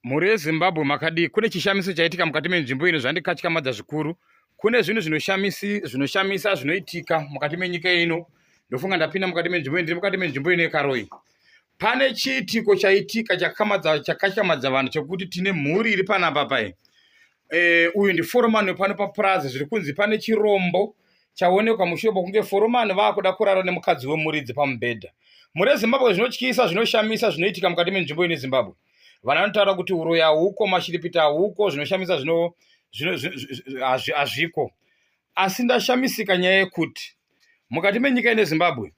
Mhuri yeZimbabwe makadii? Kune chishamiso chaitika mukati menzvimbo ino zvandikatyamadza zvikuru. Kune zvinhu zvinoshamisa zvinoitika mukati menyika ino. Ndofunga ndapinda mukati menzvimbo ino, ndiri mukati menzvimbo ino yekaroyi. Pane chiitiko chaitika chakatyamadza vanhu chekuti tine mhuri iri panapa paye. Eh, uyu ndiforomani wepano papurazi zviri kunzi pane chirombo chaonekwa mushure pokunge foromani vaakuda kurara nemukadzi wemuridzi pamubhedha. Mhuri yeZimbabwe zvinotyisa, zvinoshamisa zvinoitika mukati menzvimbo ine Zimbabwe. vana vanotaura kuti uroyi hauko mashiripiti hauko zvinoshamisa zvino hazviko asi ndashamisika nyaya yekuti mukati menyika ine zimbabwe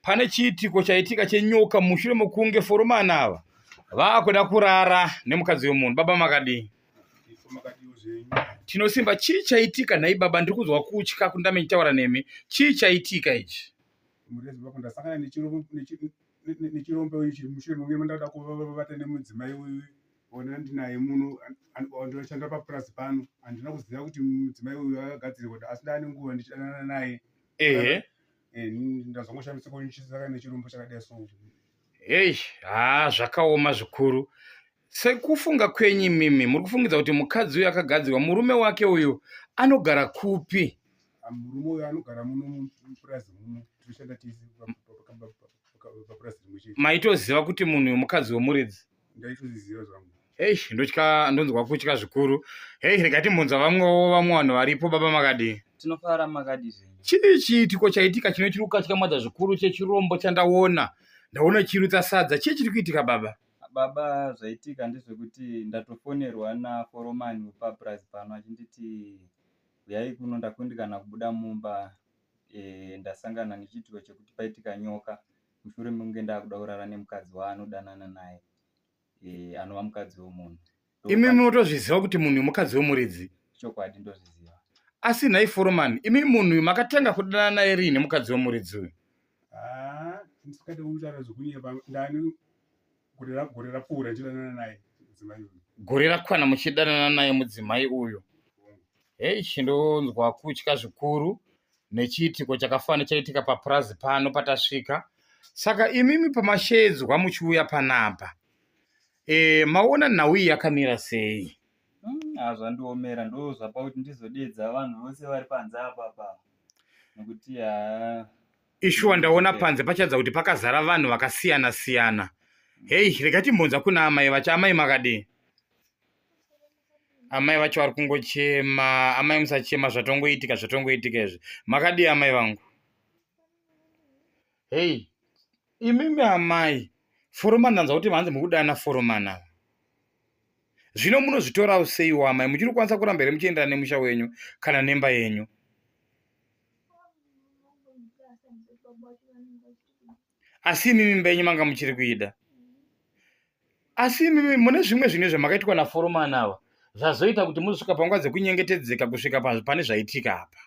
pane chiitiko chaitika chenyoka mushure mokunge foromani ava vaakuda kurara nemukadzi wemunhu baba makadii tinosimba chii chaitika nhai baba ndiri kunzwa kutya kundame ndichitaura nemi chii chaitika ichi murezi vakundasanganaa nechirombe uyu chiri mushure mangu mandada kuvata nemudzimai uyu ona ndinaye muno ndinoshanda papurazi pano handina kuziva kuti mudzimai uyu akagadzirirwa kuti asi ndaane nguva ndichidanana naye ehe eh, ndazongoshambisikochisaka nechirombo chakadai so hei haa zvakaoma zvikuru Sekufunga kwenyu imimi muri kufungidza kuti mukadzi uyu akagadzirwa murume wake uyu anogara kupi? Ah, murume uyu anogara muno mupurazi muno tinoshanda tese papurazi rimwe chete. Maitoziva kuti munhu uyu mukadzi wemuridzi? Ndaitozviziva zvangu. Hei ndotya ndonzwa kutya zvikuru. Hei rega timbunza vamwewo vamwe vanhu varipo baba makadii? Tinofara makadii zvenyu? Chii chiitiko chaitika chinoitira kukatyamadza zvikuru chechirombo chandaona? Ndaona chirutsa sadza. Chii chiri kuitika baba? Baba zvaitika ndezvekuti ndatofonerwa naforomani wepapurazi pano achinditi huyai kuno ndakundikana kubuda mumba e, ndasangana nechiitiko chekuti paitika nyoka mushure mekunge ndaakuda kurara nemukadzi waanodanana naye e, anova mukadzi wemunhu imi motozviziva kuti munhu mukadzi wemuridzi chokwadi ndozviziva asi nhai foromani imi munhu uyu makatanga kudana naye riini mukadzi wemuridzi uyu ah, ndisikade kutaura zvokunyeba ndani gore rapfuura ndichidanana naye mudzimai uyu gore rakwana muchidanana naye mudzimai uyu hei chindonzwa kutya zvikuru nechiitiko chakafana chaitika papurazi pano patasvika saka imimi pamashedzwa muchiuya panapa Eh, maona nhau iyi yakamira sei? Mm, ah, zvandiomera ndo zvapa kuti ndizodeedza vanhu vose vari panze apapa nokuti haa ishuwa ndaona panze pachadza kuti pakazara vanhu vakasiyana siyana hei rega timbonza kuna amai vacho amai makadii amai vacho vari kungochema amai musachema zvatongoitika zvatongoitika izvi makadii amai vangu hei Imimi amai foromani ndanzwa kuti manzi mukudana foromani ava zvino munozvitorawo seiwo amai muchiri kukwanisa kuramba here muchiendera nemusha wenyu kana nemba yenyu asi imimi mba yenyu manga muchiri kuida asi imimi mune zvimwe zvinhu zvamakaitwa naforomani ava zvazoita kuti muzosvika panguva dzekunyengetedzeka kusvika pane zvaitika apa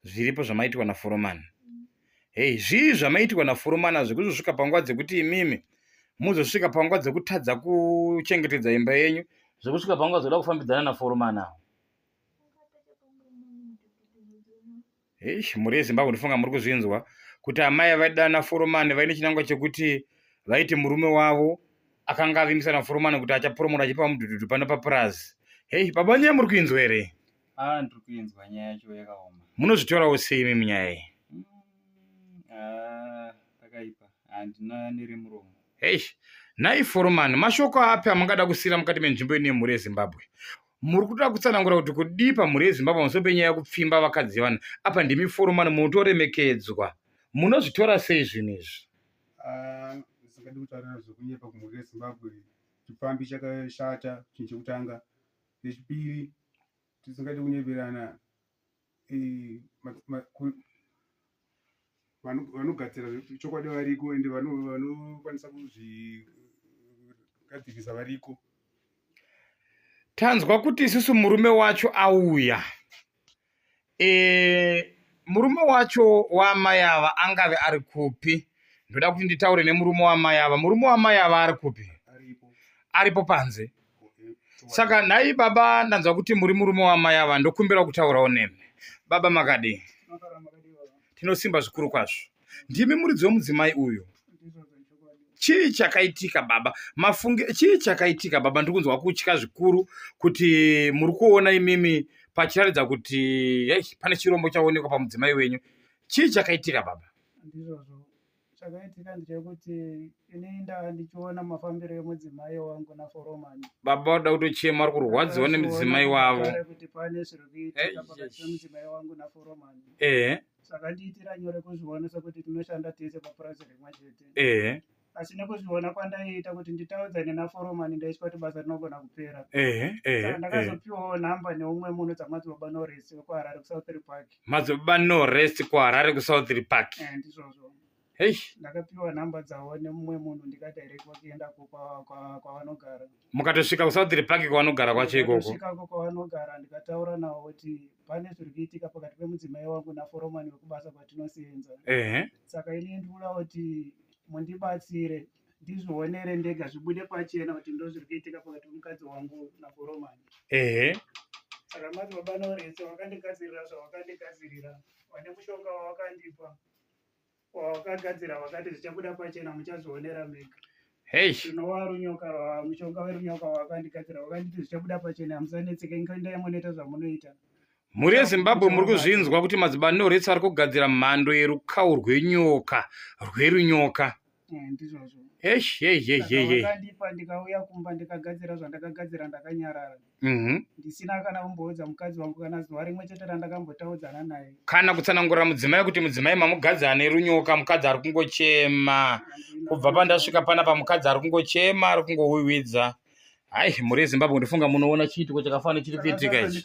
zviripo zvamaitirwa naforomani hei zvii zvamaitirwa naforomani azvi kuzosvika panguva dzekuti imimi muzosvika panguva dzekutadza kuchengetedza imba yenyu zvekusvika panguva dzoda kufambidzana naforomani awo hei mhuri yezimbabwe ndifunga muri kuzvinzwa kuti amai vaidana foromani vaine chinangwa chekuti vaiti murume wavo akanga avimbisa naforomani kuti achaporomora achipa mudhudhudhu pano papurazi hei babanyaya muri kuinzwa here Ah, ndiri kuinzwa nyaya yacho yakaoma. Munozvitorawo sei imi munyaya iyi? Mm, ah, pakaipa. Handina nere muromo. Eish, nhai foromani, mashoko api amungada kusiira mukati menzvimbo ine mhuri yeZimbabwe? Muri kuda kutsanangura kuti kudii pamhuri yeZimbabwe pamusoro penyaya yekupfimba vakadzi yevanhu? Apa ndimi foromani munotoremekedzwa. Munozvitora sei zvinhu izvi? Ah, zvisingadi kutaura zvekunyepa kumhuri yeZimbabwe. Chipfambi chakashata chinhu chekutanga. Zvechipiri, tisingade kunyeperana eh, vanogadzira chokwadi variko ende vanokwanisa kuzvigadzirisa variko. Tanzwa kuti isusu murume wacho auya. eh, murume wacho waamai ava angave ari kupi ndoda kuti nditaure nemurume waamai ava murume waamai ava ari kupi aripo panze saka nhai baba ndanzwa kuti muri murume waamai ava ndokumbirawo kutaurawo nemi baba makadii tinosimba zvikuru kwazvo ndimi muridzi wemudzimai uyu chii chakaitika baba mafunge chii chakaitika baba ndiri kunzwa kutya zvikuru kuti muri kuona imimi pachiratidza kuti hey, pane chirombo chaonekwa pamudzimai wenyu chii chakaitika baba ndizvozvo chakaitika ndechekuti ini ndava ndichiona mafambiro emudzimai wangu naforomani baba vada kutochema vari kurwadziwa nemudzimai wavo kuti pane zviri kuitika pakati pemudzimai wangu naforomani ehe zvakandiitira nyore kuzviona sekuti tinoshanda tese papurazi rimwe chete ehe asi nekuzviona kwandaiita kuti nditaudzane naforomani ndaitya kuti basa rinogona kupera ehe saka ehe ehe ndakazopiwawo nhamba neumwe munhu dzamadzibaba noresi wekuharare kusouthry park mazobaba no rest kuharare kusouthry park Eh, ndizvozvo Eish. ndakapiwa nhamba dzavo nemumwe munhu ndikadirectwa kuenda ko kwa- kwa- kwavanogara mukatosvika kusouthry park kwavanogara kwacho ikoko Ndikasvikako kwavanogara ndikataura navo kuti pane zviri kuitika pakati pemudzimai wangu naforomani wekubasa kwatinosenza ehe saka ini ndikuda kuti mundibatsire ndizvionere ndega zvibude pachena kuti ndo zviri kuitika pakati pemukadzi wangu naforomani ehe saka mati baba norese wakandigadzirira zvawakandigadzirira vane mushonga wawakandipa wawakagadzira wakati zvichabuda pachena muchazvionera mega tinova runyoka mushonga werunyoka wakandigadzira wakanditi zvichabuda pachena hamusanetseke nkoenda yamonoita zvamunoita mhuri yezimbabwe muri kuzvinzwa kuti madzibani norets ari kugadzira mhando yerukawo rwenyoka rwerunyoka eh, ndizvozvo esh esh esh esh ndikauya kumba ndikagadzira zvandakagadzira ndakanyarara mhm. ndisina kana kumboudza mukadzi wangu kana zuva rimwe chete randakambotaudzana naye kana kutsanangurira mudzimai kuti mudzimai mamukadzi ane runyoka mukadzi ari kungochema kubva pandasvika pana pamukadzi ari kungochema ari kungowiwidza hayi mhuri yezimbabwe ndifunga munoona chiitiko chakafana chiri kuitika ichi